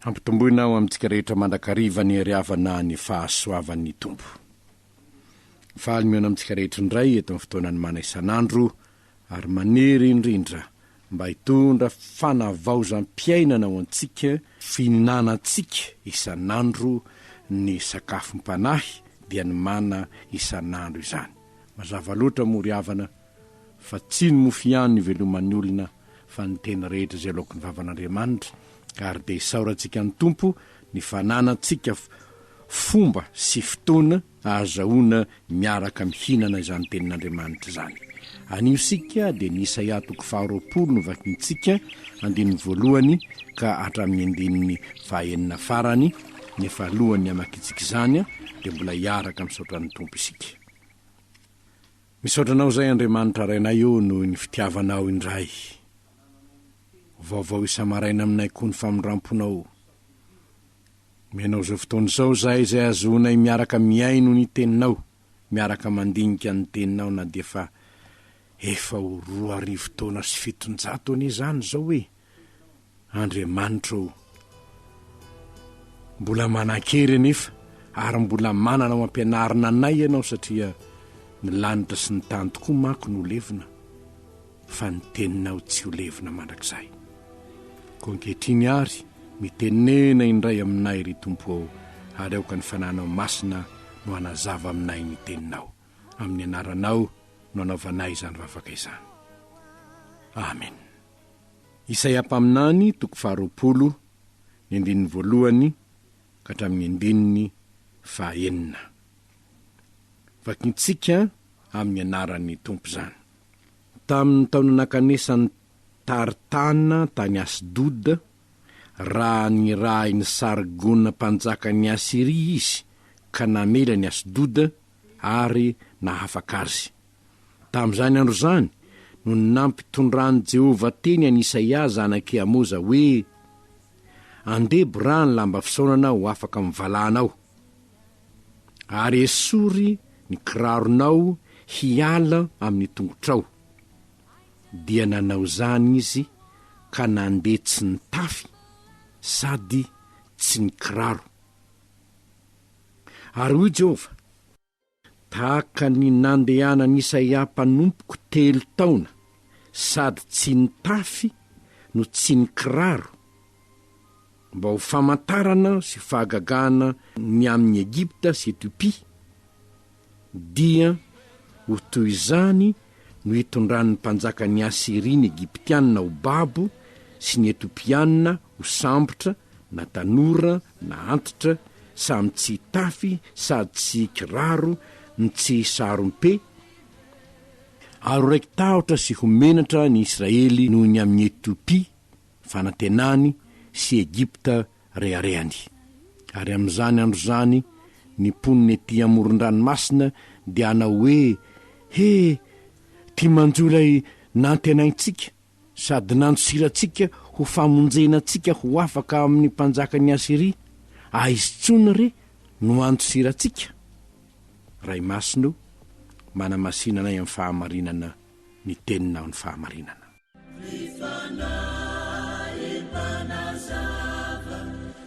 Hampitomboina ao amintsika rehetra mandrakariva ny hery havana ny fahasoavan'ny Tompo. Faly mihaona amintsika rehetra indray eto amin'ny fotoanan'ny mana isan'andro ary manery indrindra mba hitondra fanavaozam-piainana ho antsika, fihinanantsika isan'andro ny sakafom-panahy dia ny mana isan'andro izany. Mazava loatra moa ry havana. fa tsy ny mofo ihany no iveloman'ny olona fa ny tena rehetra izay laoky ny vavan'Andriamanitra ary dia isaorantsika ny Tompo ny fananantsika fomba sy fotoana ahazahoana miaraka mihinana izany tenin'Andriamanitra izany anio isika dia ny Isaia toko faharoapolo no vakintsika andininy voalohany ka hatramin'ny andininy fahaenina farany nefa alohan'ny hamakintsika izany dia mbola hiaraka misaotra ny Tompo isika Misaotra anao izay Andriamanitra Rainay ô noho ny fitiavanao indray. Vaovao isa-maraina aminay koa ny famindram-ponao. Omeo anao izao fotoana izao izahay izay ahazoanay miaraka mihaino ny teninao, miaraka mandinika ny teninao na dia efa efa ho roa arivo taona sy fitonjato anie izany izao e! Andriamanitra ô! Mbola manan-kery anefa ary mbola manana ho ampianarina anay Ianao satria ny lanitra sy ny tany tokoa manko no levona fa ny Teninao tsy ho levona mandrakizay. Koa ankehitriny ary mitenena indray aminay ry Tompo ô ary aoka ny Fananao Masina no hanazava aminay ny Teninao. Amin'ny Anaranao no anaovanay izany vavaka izany. Amena. Isaia mpaminany, toko faharoapolo, ny andininy voalohany ka hatramin'ny andininy fahaenina. Vakintsika amin'ny anaran'ny Tompo izany. Tamin'ny taona nankanesany Tartana tany Asdoda, raha nirahin'i Sargona mpanjakan'i Asyria izy ka namely an'i Asdoda ary nahafaka azy. Tamin'izany andro izany no nampitondran'i Jehovah teny an'i Isaia zanak'i Amoza hoe, Andeha boraha ny lamba fisaonana ho afaka amin'ny valahanao, ary esory ny kiraronao hiala amin'ny tongotrao. Dia nanao izany izy ka nandeha tsy nitafy sady tsy nikiraro. Ary hoy Jehovah, Tahaka ny nandehanan'Isaia mpanompoko telo taona sady tsy nitafy no tsy nikiraro, mba ho famantarana sy fahagagana ny amin'i Egypta sy Etiopia, dia ho toy izany no hitondran'ny mpanjakan'i Asyria ny Egyptiana ho babo sy ny Etiopiana ho sambotra na tanora na antitra samy tsy hitafy sady tsy hikiraro ny tsy hisarom-pe, ary ho raiki-tahotra sy ho menatra ny Israely noho ny amin'i Etiopia, fanantenany, sy Egypta, reharehany. Ary amin'izany andro izany ny mponina ety amoron-dranomasina dia hanao hoe, He! Ty manjo ilay nantenaintsika! Sady nandosira antsika ho famonjena antsika ho afaka amin'ny mpanjakan'i Asyria, aizy tsony re no handosira antsika? Ray Masina o, manamasina anay amin'ny fahamarinana ny tenina amin'ny fahamarinana.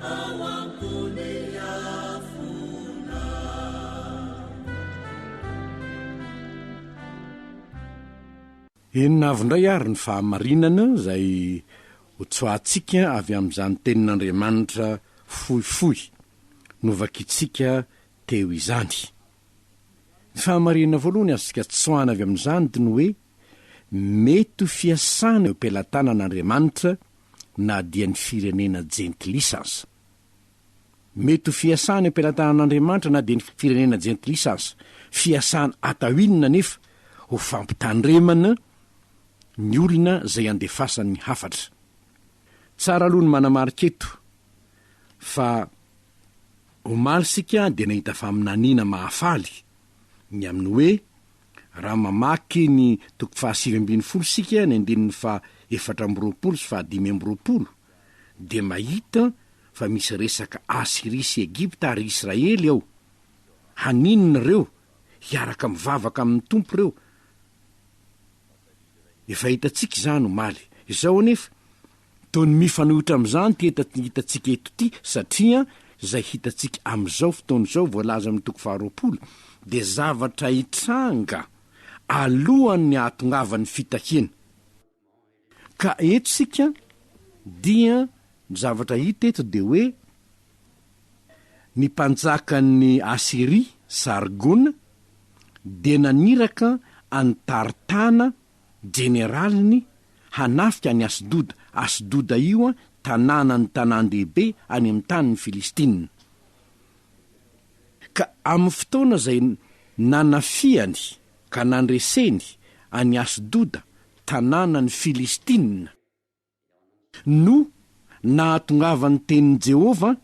ao am-pony afona. Inona avy indray àry ny fahamarinana izay hotsoahantsika avy amin'izany Tenin'Andriamanitra fohifohy novakintsika teo izany? Ny fahamarinana voalohany azontsika tsoahana avy amin'izany dia ny hoe mety ho fiasana eo am-pelatanan'Andriamanitra na dia ny firenena jentilisa aza. Mety ho fiasana eo am-pelatanan'Andriamanitra na dia ny firenena jentilisa aza. Fiasana atao inona anefa? Ho fampitandremana ny olona izay andefasany hafatra. Tsara aloha ny manamarika eto fa omaly isika dia nahita faminaniana mahafaly ny amin'ny hoe Raha mamaky ny toko fahasivy ambin'ny folo isika, ny andininy faha efatra amby roapolo sy faha dimy amby roapolo, dia mahita fa misy resaka Asyria sy Egypta ary Israely ao. Haninona ireo? Hiaraka mivavaka amin'ny Tompo ireo. Efa hitantsika izany omaly. Izao anefa. Toy ny mifanohitra amin'izany ity hetaty hitantsika eto ity, satria izay hitantsika amin'izao fotoana izao voalaza amin'ny toko faharoapolo dia zavatra hitranga alohan'ny hahatongavan'ny fitahiana. Ka eto isika dia ny zavatra hita eto dia hoe ny mpanjakan'ny Asyria, Sargona, dia naniraka an'i Tartana jeneraliny hanafika an'i Asdoda, Asdoda io an, tanànan'ny tanàn-dehibe any amin'ny tanin'ny Filistina. Ka amin'ny fotoana izay nanafihany ka nandreseny an'i Asdoda, tanànan'ny Filistina, no nahatongavan'ny tenin'i Jehovah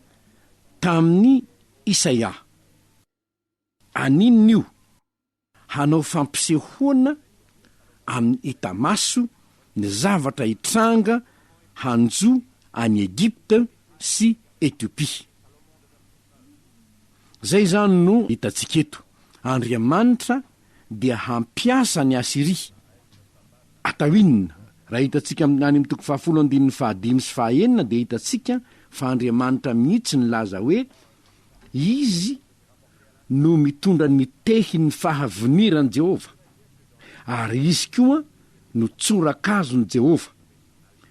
tamin'i Isaia. Aninona io? Hanao fampisehoana amin'ny hita maso ny zavatra hitranga hanjo an'i Egypte sy Ethiopie. Izay izany no hitantsika eto. Andriamanitra dia hampiasa an'i Asyria. Atao inona? Raha hitantsika any amin'ny toko fahafolo andininy fahadimy sy fahaenina dia hitantsika fa Andriamanitra mihitsy nilaza hoe Izy no mitondra ny tehin'ny fahaviniran'i Jehovah, ary izy koa no tsorakazon'i Jehovah,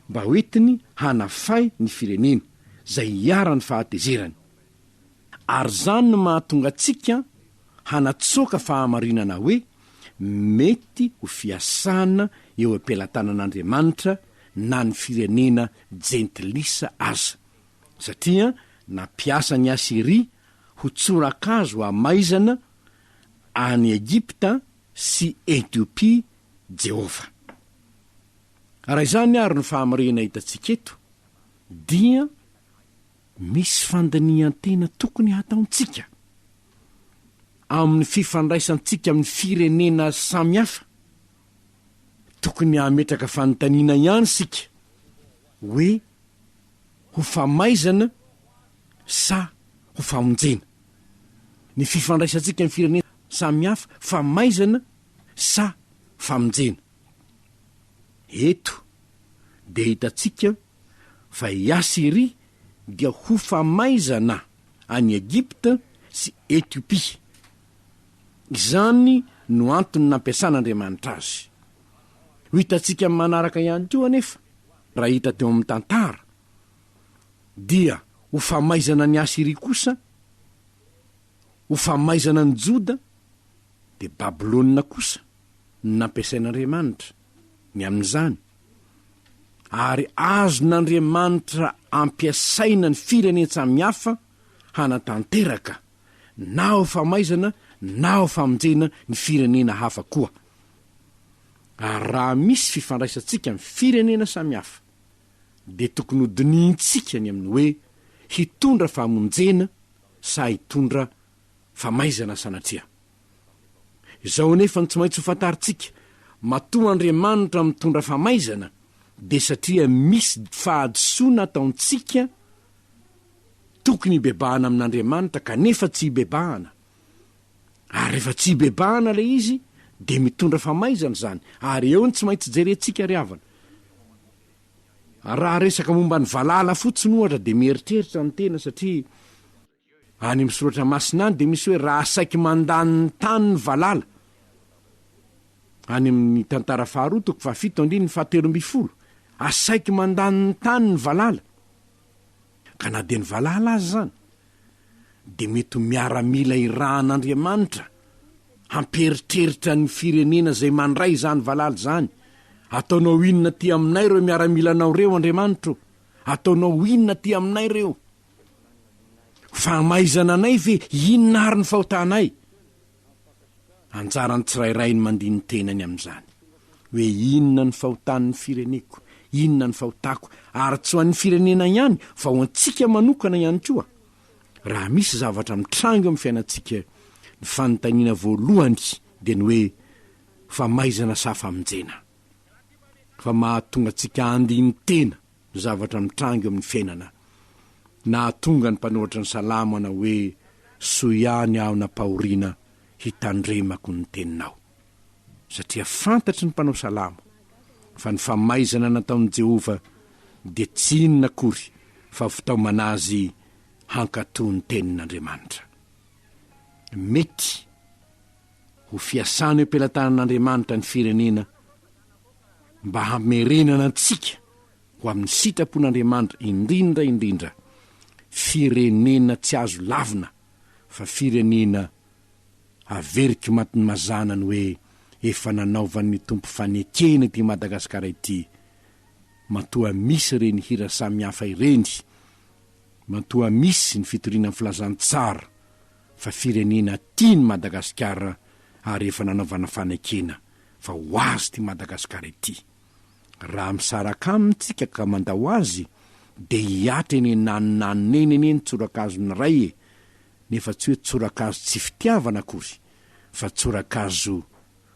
mba hoentiny hanafay ny firenena, izay hiharan'ny fahatezerany. Ary izany no mahatonga antsika hanatsoaka fahamarinana hoe mety ho fiasana eo am-pelatanan'Andriamanitra na ny firenena jentilisa aza. satria nampiasa an'i Asyria ho tsorakazo hamaizana an'i Egypta sy Etiopia Jehovah. Raha izany àry no fahamariana hitantsika eto, dia misy fandinihan-tena tokony hataontsika amin'ny fifandraisantsika amin'ny firenena samy hafa. Tokony hametraka fanontaniana ihany isika hoe, ho famaizana sa ho famonjena? Ny fifandraisantsika amin'ny firenena samihafa, famaizana sa famonjena? Eto dia hitantsika fa i Asyria dia ho famaizana an'i Egypta sy Etiopia. Izany no antony nampiasan'Andriamanitra azy. Ho hitantsika amin'ny manaraka ihany koa anefa. Raha hita teo amin'ny tantara, dia ho famaizana an'i Asyria kosa, ho famaizana an'i Joda, dia Babylona kosa no nampiasain'Andriamanitra ny amin'izany, ary azon'Andriamanitra ampiasaina ny firenen-tsamy hafa hanatanteraka na ho famaizana na ho famonjena ny firenena hafa koa. Ary raha misy fifandraisantsika amin'ny firenena samihafa dia tokony hodinihintsika ny amin'ny hoe hitondra famonjena sa hitondra famaizana sanatria. Izao anefa no tsy maintsy ho fantarintsika, matoa Andriamanitra mitondra famaizana dia satria misy fahadisoana ataontsika tokony hibebahana amin'Andriamanitra kanefa tsy hibebahana, Ary rehefa tsy ibebahana ilay izy dia mitondra famaizana izany, ary eo ny tsy maintsy jerentsika ry havana. Raha resaka momba ny valala fotsiny ohatra dia mieritreritra ny tena satria any amin'ny soratra masina any dia misy hoe raha saiky mandany ny tany ny valala, any amin'ny tantara faharoa toko fahafito andininy fahatelo ambin'ny folo, asaiky mandany ny tany ny valala. Ka na dia ny valala aza izany dia mety ho miaramila irahan'Andriamanitra hampieritreritra ny firenena izay mandray izany valala izany, Ataonao inona aty aminay ireo miaramilanao ireo, Andriamanitra ô? Ataonao inona aty aminay ireo? Fahamaizana anay ve? Inona ary ny fahotanay? Anjaran'ny tsirairay ny mandia ny tenany amin'izany hoe inona ny fahotan'ny fireneko, inona ny fahotako ary tsy ho an'ny firenena ihany fa ho antsika manokana ihany koa raha misy zavatra mitranga eo amin'ny fiainantsika ny fanontaniana voalohany dia ny hoe famaizana sa famonjena fa mahatonga antsika handia ny tena zavatra mitranga eo amin'ny fiainana. Nahatonga ny mpanoratra ny Salamo hanao hoe, Soa ihany aho nampahoriana hitandremako ny teninao. Satria fantatry ny mpanao salamo fa ny famaizana nataon'i Jehovah dia tsy inona akory fa fitaomana azy hankatò ny tenin'Andriamanitra. Mety ho fiasana eo am-pelatanan'Andriamanitra ny firenena mba hamerenana antsika ho amin'ny sitrapon'Andriamanitra indrindra indrindra firenena tsy azo lavina fa firenena averiky matin'ny mazana ny hoe efa nanaovan'ny Tompo fanekena ity Madagasikara ity matoa misy ireny hira samihafa ireny matoa misy ny fitoriana ny filazantsara fa firenena tia ny Madagasikara ary efa nanaovana fanekena fa ho azy ity Madagasikara ity. Raha misaraka aminy tsika ka mandao azy dia hihatra eny ananonanona eny anie ny tsorakazony iray e! nefa tsy hoe tsorakazo tsy fitiavana akory fa tsorakazo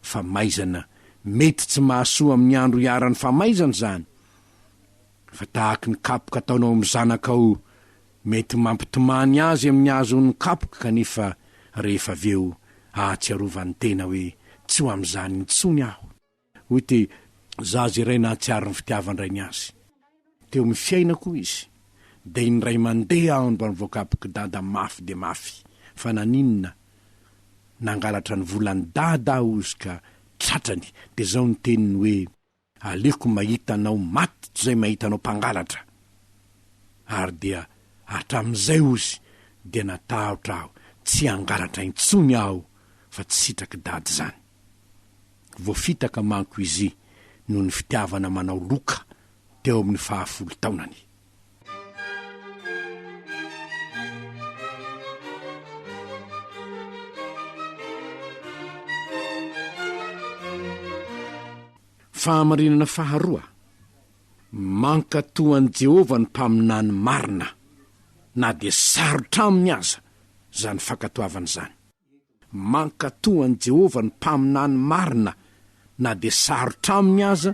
famaizana mety tsy mahasoa amin'ny andro iharan'ny famaizana izany fa tahaky ny kapoka ataonao amin'ny zanakao Mety mampitomany azy amin'ny hahazoany kapoka kanefa rehefa avy eo ahatsiarovany tena hoe tsy ho amin'izany intsony aho, hoy ity zaza iray nahatsiaro ny fitiavan-drainy azy. Teo amin'ny fiainako izy dia indray mandeha aho no mba mivoakapok'i Dada mafy dia mafy fa naninona nangalatra ny volan'i Dada aho hozy ka tratrany dia izao ny teniny hoe. Aleoko mahita anao maty tozay mahita anao mpangalatra. Ary dia hatramin'izay ozy dia natahotra aho tsy hangalatra intsony aho fa tsy sitrak'i dada izany. Voafitaka manko izy noho ny fitiavana manao loka teo amin'ny fahafolo taonany. Fahamarinana faharoa, mankatoa an'i Jehovah ny mpaminany marina, na dia sarotra aminy aza izany fankatoavana izany. Mankatò an'i Jehovah ny mpaminany marina na dia sarotra aminy aza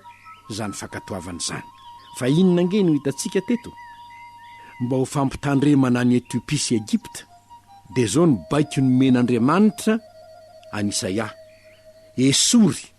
izany fankatoavana izany. Fa inona ange no hitantsika teto? Mba ho fampitandremana an'i Etiopia sy Egypta, dia izao ny baiko nomen'Andriamanitra an'i Isaia, Esory,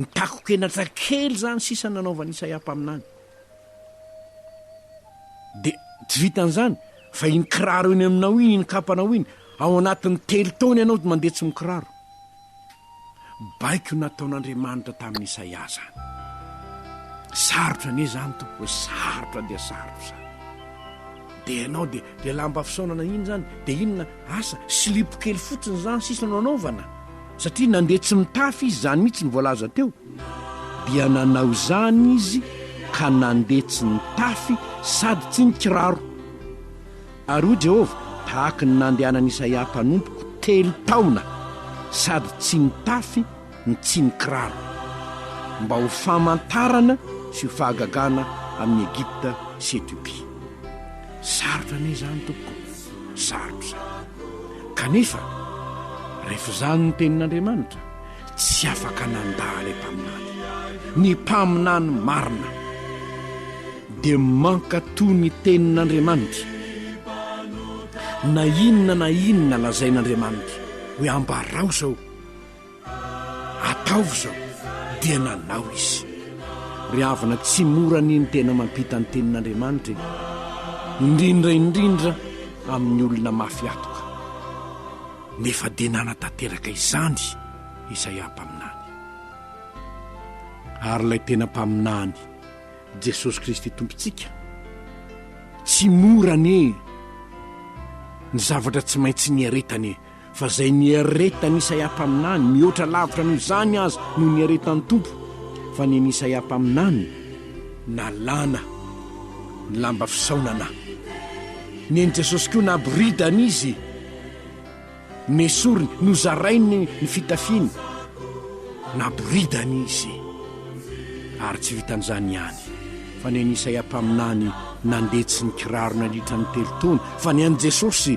Nitakokenatra kely izany sisa nanaovan'i Isaia mpaminany. Dia tsy vitan'izany, fa iny kiraro eny aminao iny, iny kapanao iny, ao anatin'ny telo taona ianao mandeha tsy mikiraro. Baiko nataon'Andriamanitra tamin'i Isaia izany. Sarotra anie izany, tompoko e, sarotra dia sarotra izany. Dia ianao dia dia lamba fisaonana iny zany dia inona asa? Silipo kely fotsiny zany sisa no anaovana? Satria nandeha tsy mitafy izy zany mihitsy ny voalaza teo. Dia nanao izany izy ka nandeha tsy nitafy sady tsy nikiraro. Ary hoy Jehovah, Tahaka ny nandehanan'i Isaia mpanompoko telo taona sady tsy nitafy, ny tsinin-kiraro mba ho famantarana sy ho fahagagana amin'i Egypta sy Ethiopia. Sarotra anie izany tompoko ô! Sarotra izany. Kanefa rehefa izany ny tenin'Andriamanitra, tsy afaka nandà ilay mpaminany. Ny mpaminany marina dia mankatò ny tenin'Andriamanitra na inona na inona lazain'Andriamanitra hoe ambarao izao. Ataovy izao! Dia nanao izy. Ry havana, tsy mora anie ny tena mampita ny Tenin'Andriamanitra e! Indrindra indrindra amin'ny olona mafy atoka. Nefa dia nanatanteraka izany Isaia mpaminany. Ary ilay tena mpaminany, Jesosy Kristy Tompontsika, tsy mora anie ny zavatra tsy maintsy niaretany e! fa izay niaretan'i Isaia mpaminany mihoatra lavitra noho izany aza no niaretan'ny Tompo, fa ny an'i Isaia mpaminany nalana ny lamba fisaonana, ny an'i Jesosy koa naboridana izy, nesoriny, nozarainy ny fitafiany, naboridana izy. Ary tsy vitan'izany ihany, fa ny an'i Isaia mpaminany nandetsy ny kiraro nandritra ny telo taona, fa ny an'i Jesosy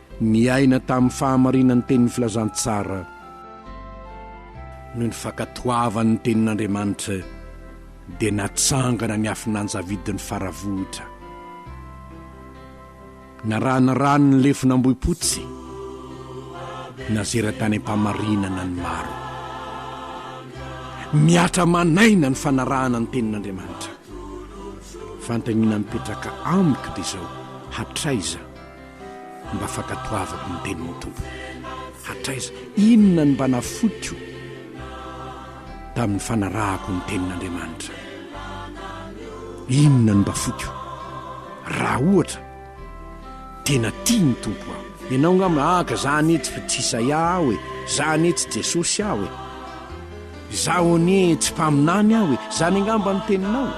Niaina tamin'ny fahamarinan'ny tenin'ny Filazantsara. Noho ny fankatoavany ny tenin'Andriamanitra, dia natsangana ny afin'Anjavidin'ny Faravohitra. Narahana rano ny lefon'Ambohipotsy. Nazera tany am-pamarinana ny maro. Mihatra aman'aina ny fanarahana ny tenin'Andriamanitra. Fanontaniana mipetraka amiko dia izao, hatraiza? Mba fankatoavako ny tenin'ny Tompo. Hatraiza? Inona no mba nafotiko tamin'ny fanarahako ny tenin'Andriamanitra? Inona no mba fotiko? Raha ohatra, tena tia ny Tompo aho. Ianao nga mba haka, za anie tsy tsy Isaia aho e, za anie tsy Jesosy aho e, zaho anie tsy mpaminany aho e, zany angamba ny teninao?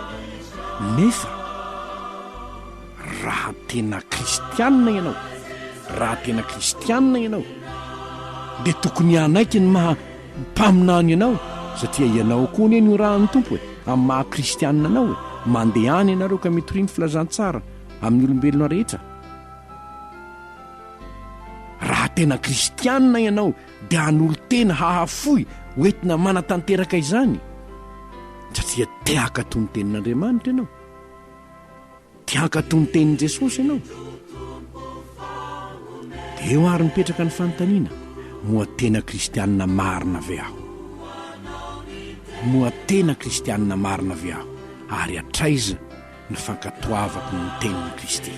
Nefa. Raha tena kristianina ianao, raha tena kristianina ianao, dia tokony hanaiky ny maha mpaminany anao, satria ianao koa anie norahan'ny Tompo e, amin'ny maha kristianina anao e. Mandehana ianareo ka mitoria ny filazantsara amin'ny olombelona rehetra. Raha tena kristianina ianao, dia hanolo-tena hahafoy ho entina manatanteraka izany, satria te-hakato ny tenin'Andriamanitra ianao. Te hankatò ny tenin'i Jesosy ianao? Dia eo àry mipetraka ny fanontaniana, Moa tena Kristianina marina ve aho? Moa tena Kristianina marina ve aho, ary hatraiza ny fankatoavako ny tenin'i Kristy?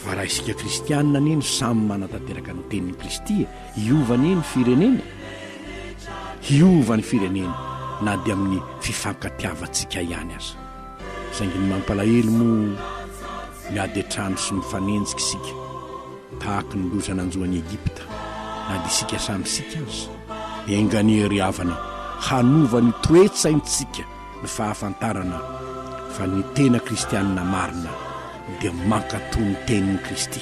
Fa raha isika Kristianina anie no samy manatanteraka ny tenin'i Kristy e, hiova anie ny firenena? Hiova ny firenena na dia amin'ny fifankatiavantsika ihany aza. Saingy ny mampalahelo moa, miady an-trano sy mifanenjika isika, tahaka ny loza nanjo an'i Egypta, na dia isika samy isika aza. Enga anie ry havana, hanova ny toe-tsaintsika ny fahafantarana fa ny tena kristianina marina dia mankatò ny tenin'i Kristy,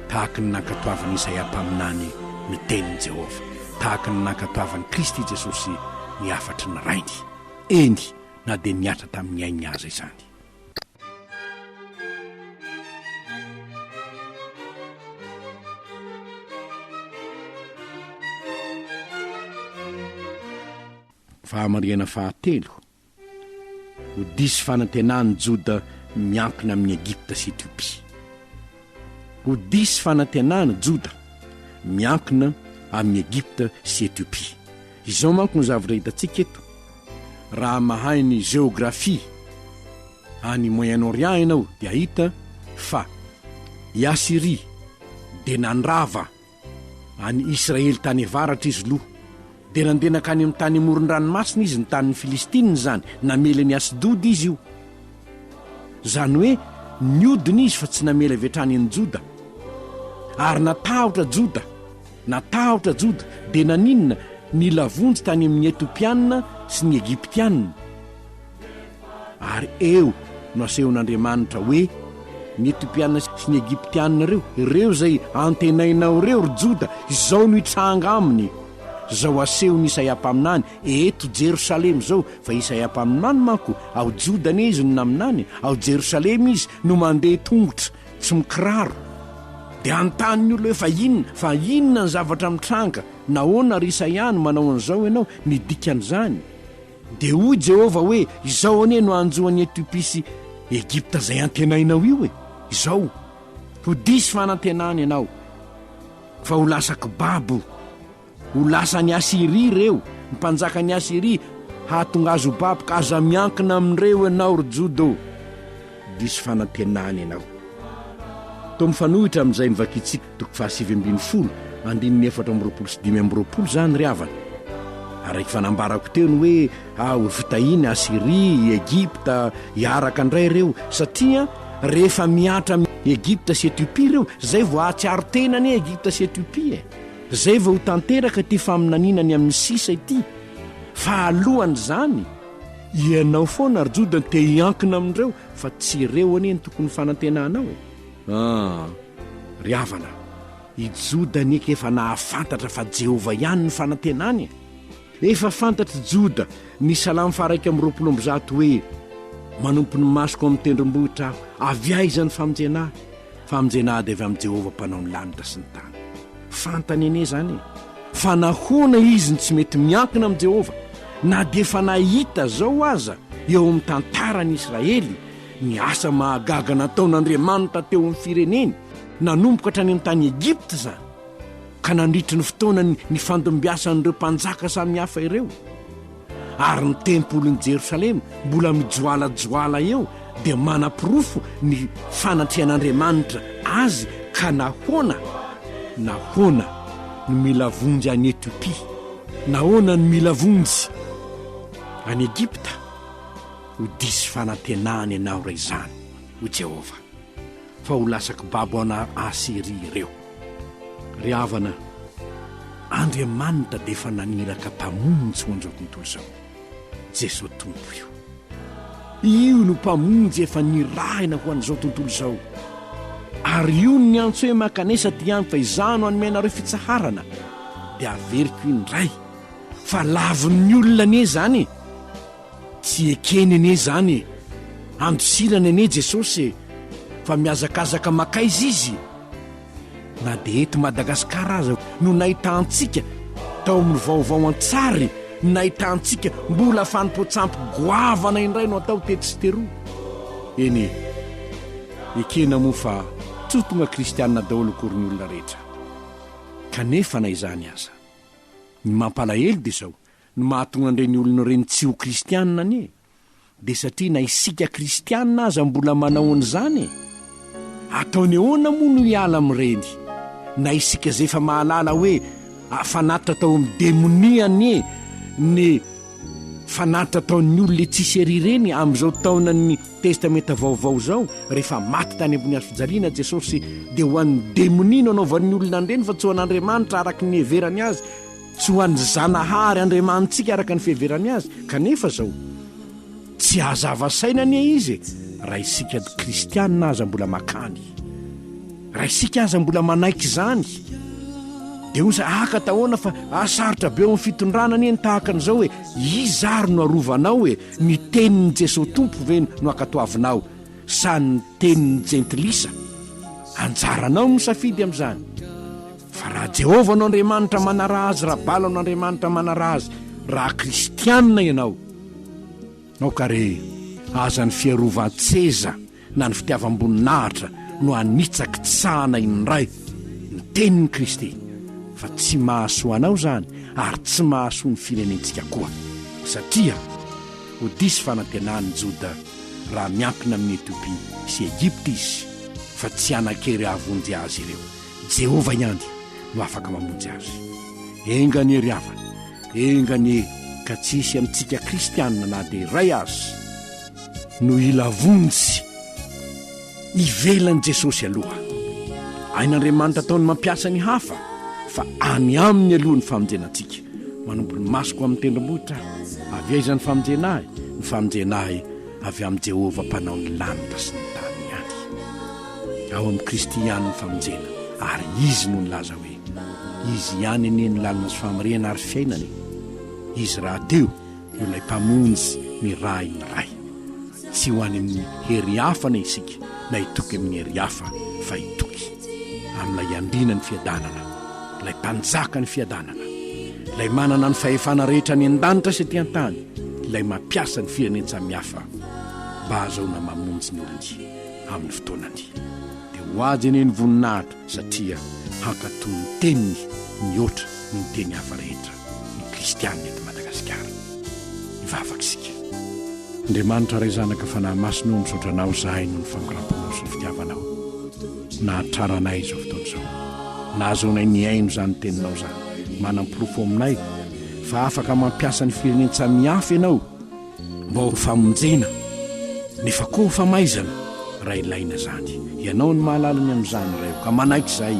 tahaka ny nankatoavin'i Isaia mpaminany ny tenin'i Jehovah, tahaka ny nankatoavin'i Kristy Jesosy ny hafatry ny Rainy. Eny, na dia nihatra tamin'ny ainy aza izany. Fahamarihana fahatelo, ho diso fanantenan'i Joda miankina amin'i Egypta sy Etiopia. Ho diso fanantenana Joda miankina amin'i Egypta sy Etiopia. Izao manko no zavatra hitantsika eto, raha mahay ny géographie any Moyen-Orient ianao dia hahita fa i Asyria dia nandrava Any Israely tany avaratra izy lo, dia nandeha nankany amin'ny tany amoron-dranomasina izy, ny tanin'ny Filistina izany, namely an'i Asdoda izy io. Izany hoe niodina izy fa tsy namely avy hatrany an'i Joda. Ary natahotra Joda, natahotra Joda, dia naninona? Nila vonjy tany amin'ny Etopiana sy ny Egyptiana. Ary eo no asehon'Andriamanitra hoe, Ny Etiopiana sy ny Egyptiana ireo, ireo izay antenainao ireo, ry Joda, izao no hitranga aminy. Izao asehon'i Isaia mpaminany, Eto Jerosalema izao, fa Isaia mpaminany manko, ao Joda anie izy no naminany, ao Jerosalema izy no mandeha tongotra tsy mikiraro. Dia hanontany ny olona hoe, Fa inona? Fa inona ny zavatra mitranga? Nahoana, ry Isaia, no manao an'izao ianao? Ny dikan'izany. Dia hoy Jehovah hoe, Izao anie no hanjo an'i Etiopia sy Egypta izay antenainao io e! Izao, Ho diso fanantenana ianao, fa ho lasa kibabo. Ho lasan'i Asyria ireo, ny mpanjakan'i Asyria hahatonga azy ho babo, ka aza miankina amin'ireo ianao, ry Joda ô! Diso fanantenana ianao. Toa mifanohitra amin'izay novakintsika. Toko fahasivy ambin'ny folo, andininy efatra amby roapolo sy dimy amby roapolo izany ry havana. Araka fanambarako teo ny hoe ah, ho vitahiny i Asyria, i Egypta hiaraka indray ireo, satria rehefa mihatra amin'i Egypta sy Etiopia ireo, izay vao hahatsiaro tena anie Egypta sy Etiopia e! Izay vao ho tanteraka ity faminaniana ny amin'ny sisa ity. Fa alohan'izany, ianao foana ry Joda no te-hiankina amin'ireo, fa tsy ireo anie no tokony fanantenanao e! Ah! Ry havana, i Joda anie ka efa nahafantatra fa Jehovah ihany no fanantenany e! Efa fantatr'i Joda ny Salamo faha-iraika amby roapolo amby zato hoe, Manompo ny masoko amin'ny tendrombohitra aho, avy aiza ny famonjena ahy? Famonjena ady avy amin'i Jehovah Mpanao ny lanitra sy ny tany. Fantany anie izany e! Fa nahoana izy no tsy mety miankina amin'i Jehovah, na dia efa nahita izao aza eo amin'ny tantaran'i Israely, Ny asa mahagaga nataon'Andriamanitra teo amin'ny fireneny, nanomboka hatrany amin'ny tany Egypta izany, ka nandritry ny fotoana nifandimbiasan'ireo mpanjaka samihafa ireo. Ary ny tempolin'i Jerosalema mbola mijoalajoala eo dia manaporofo ny fanatrehan'Andriamanitra azy ka nahoana? Nahoana no mila vonjy any Etiopia? Nahoana no mila vonjy any Egypta? Ho diso fanantenana ianao raha izany, hoy Jehovah, fa ho lasa kibabo anà Asyria ireo. Ry havana, Andriamanitra dia efa naniraka Mpamonjy ho an'izao tontolo izao, Jesoa Tompo io. Io no Mpamonjy efa nirahina ho an'izao tontolo izao. Ary io no niantso hoe, Mankanesa aty amiko, fa izaho no hanome anareo fitsaharana. Dia averiko indray, fa lavin'ny olona anie izany e! Tsy ekeny anie izany e! Andosirany anie Jesosy e! Fa mihazakazaka makaiza Izy? Na dia eto Madagasikara aza no nahitantsika tao amin'ny vaovao an-tsary ny nahitantsika mbola fanompoan-tsampy goavana indray no atao tetsy sy teroa. Eny e! Ekena moa fa tsy ho tonga kristianina daholo akory ny olona rehetra. Kanefa na izany aza, ny mampalahelo dia izao, Ny mahatonga an'ireny olona ireny tsy ho kristiana anie dia satria na isika kristiana aza mbola manao an'izany e! Ataony ahoana moa no hiala amin'ireny? Na isika izay efa mahalala hoe fanatitra tao amin'ny demonia anie ny fanatitra ataon'ny olona etsy sy ery ireny amin'izao taonan'ny Testamenta Vaovao izao, rehefa maty tany ambony hazofijaliana Jesosy dia ho an'ny demonia no anaovan'ny olona an'ireny fa tsy ho an'Andriamanitra araka ny niheverany azy. Tsy ho an'ny Zanahary Andriamanitsika araka ny fiheverany Azy, kanefa izao. Tsy hazava saina anie Izy e! Raha isika Kristianina aza mbola makany. Raha isika aza mbola manaiky izany. Dia hoy za, Aka tahoana fa hahasarotra be eo amin'ny fitondrana anie ny tahaka an'izao e! Iza ary no arovanao e? Ny tenin'i Jesosy Tompo ve no hankatoavinao sa ny tenin'ny jentilisa? Anjaranao ny misafidy amin'izany. Fa raha Jehovah no Andriamanitra manaraha azy, raha Bala no andriamanitra manaraha azy, raha kristianina ianao, aoka re aza ny fiarovan-tseza na ny fitiavam-boninahitra no hanitsakitsahana indray ny tenin'i Kristy, fa tsy mahasoa anao izany ary tsy mahasoa ny firenentsika koa, satria ho diso fanantenan'i Joda raha miankina amin'i Etiopia sy Egypta izy, fa tsy hanan-kery hahavonjy azy ireo. Jehovah ihany no afaka mamonjy azy. Enga anie ry havana, enga anie ka tsy hisy amintsika Kristianina na dia iray aza no hila vonjy. Ivelan'i Jesosy aloha. Ain'Andriamanitra ataony mampiasa ny hafa, fa any Aminy aloha ny famonjena antsika. Manompo ny masoko amin'ny tendrombohitra aho. Avy aiza ny famonjena ahy? Ny famonjena ahy avy amin'i Jehovah Mpanao ny lanitra sy ny tany ihany. Ao amin'i Kristy ihany ny famonjena, ary izy no nilaza hoe, Izy ihany anie ny lalana sy famarihana ary fiainana e! Izy rahateo no ilay Mpamonjy nirahin'ny Ray. Tsy ho any amin'ny hery hafa anie isika, na hitoky amin'ny hery hafa, fa hitoky. amin'ilay Andriana ny fiadanana, ilay Mpanjaka ny fiadanana, ilay manana ny fahefana rehetra any an-danitra sy aty an-tany, ilay mampiasa ny firenen-tsamihafa mba hahazoana mamonjy ny olony amin'ny fotoanany. Dia ho ajy anie ny voninahitra satria hankatò ny teniny mihoatra noho ny teny hafa rehetra. ny kristianina eto Madagasikara. Hivavaka isika. Andriamanitra Ray Zanaka Fanahy Masina ô misaotra Anao izahay noho ny fangoraham-ponao sy ny fitiavanao nahatrara anay izao fotoana izao nahazoanay nihaino izany teninao izany manam-porofo aminay fa afaka mampiasa ny firenen-tsamihafa Ianao mba ho famonjena nefa koa ho famaizana raha ilaina izany Ianao no mahalala ny amin'izany Ray ô ka manaiky izahay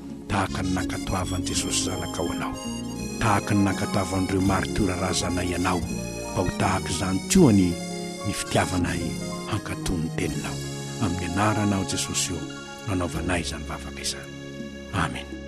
tahaka ny nankatoavan'i Jesosy Zanakao anao, tahaka ny nankatoavan'ireo maritiora razanay anao, mba ho tahaka izany koa anie ny fitiavanay hankatò ny Teninao. Amin'ny Anaranao Jesosy ô no anaovanay izany vavaka izany. Amena.